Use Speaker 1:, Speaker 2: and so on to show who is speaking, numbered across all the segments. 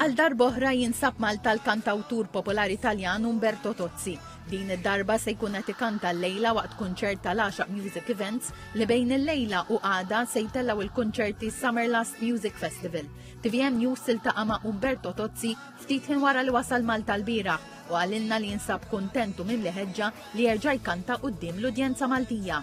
Speaker 1: Għal darb'oħra jinsab Malta l-kantawtur popolari Taljan Umberto Tozzi. Din id-darba se jkun qed ikanta l-lejla waqt kunċert tal-10 Music Events li bejn il-lejla u għada se jtellgħu il-kunċerti Summer Last Music Festival. TVM News siltaqa' ma' Umberto Tozzi ftit ħin wara li wasal Malta l-bira u għalilna li jinsab kuntentu minn li ħeġġa li jerġa' jkanta quddiem l-udjenza Maltija.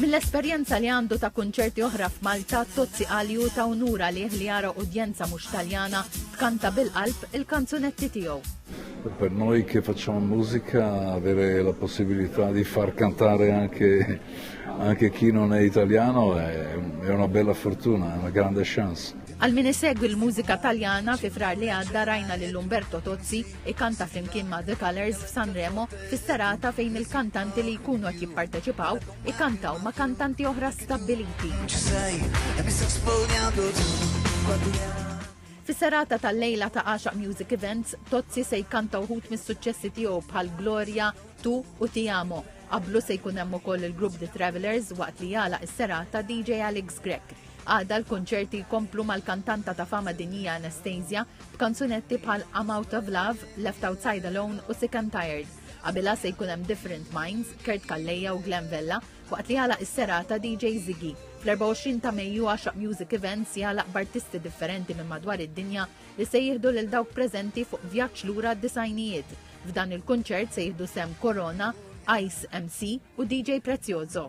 Speaker 1: Mill-esperjenza li għandu ta' kunċerti oħra f'Malta, Tozzi qal li hu ta' unur għalih li jara udjenza mhux Taljana tkanta bil-qalb il-kanzunetti tiegħu. Per noi
Speaker 2: che facciamo musica avere la possibilità di far cantare anche, anche chi non è italiano è, è una bella fortuna, è una grande chance. Għal min isegwi
Speaker 1: l-mużika taljana fi frar li għadda rajna lil Umberto Tozzi Ikanta flimkien ma' The Colours f'Sanremo fis-serata fejn il-kantanti li jkunu qed jipparteċipaw ikantaw ma' kantanti oħra stabbiliti. Fis-serata tal-lejla ta' Għaxaq Music Events, Tozzi se jkanta uħut mis-suċċessi tiegħu bħal Gloria, Tu u Ti Amo. Qablu se jkun hemm ukoll il-grupp The Travelers waqt li jala is-serata DJ Alex Grek. Għada l-konċerti jkomplu mal-kantanta ta' fama dinjija Anastasia b'kanzunetti bħal I'm Out of Love, Left Outside Alone u Sick and Tired. Qabilha se jkun hemm Different Minds, Kurt Kalleja u Glenn Vella, waqt li għalaq is-serata DJ Ziggy. Fl-24 ta' Mejju għaxaq Music Events jagħlaq b'artisti differenti minn madwar id-dinja li se jieħdu lil dawk preżenti fuq vjaġġ lura d-disajnijiet. F'dan il-kunċert se jieħdu sem Corona, Ice MC u DJ Prezioso.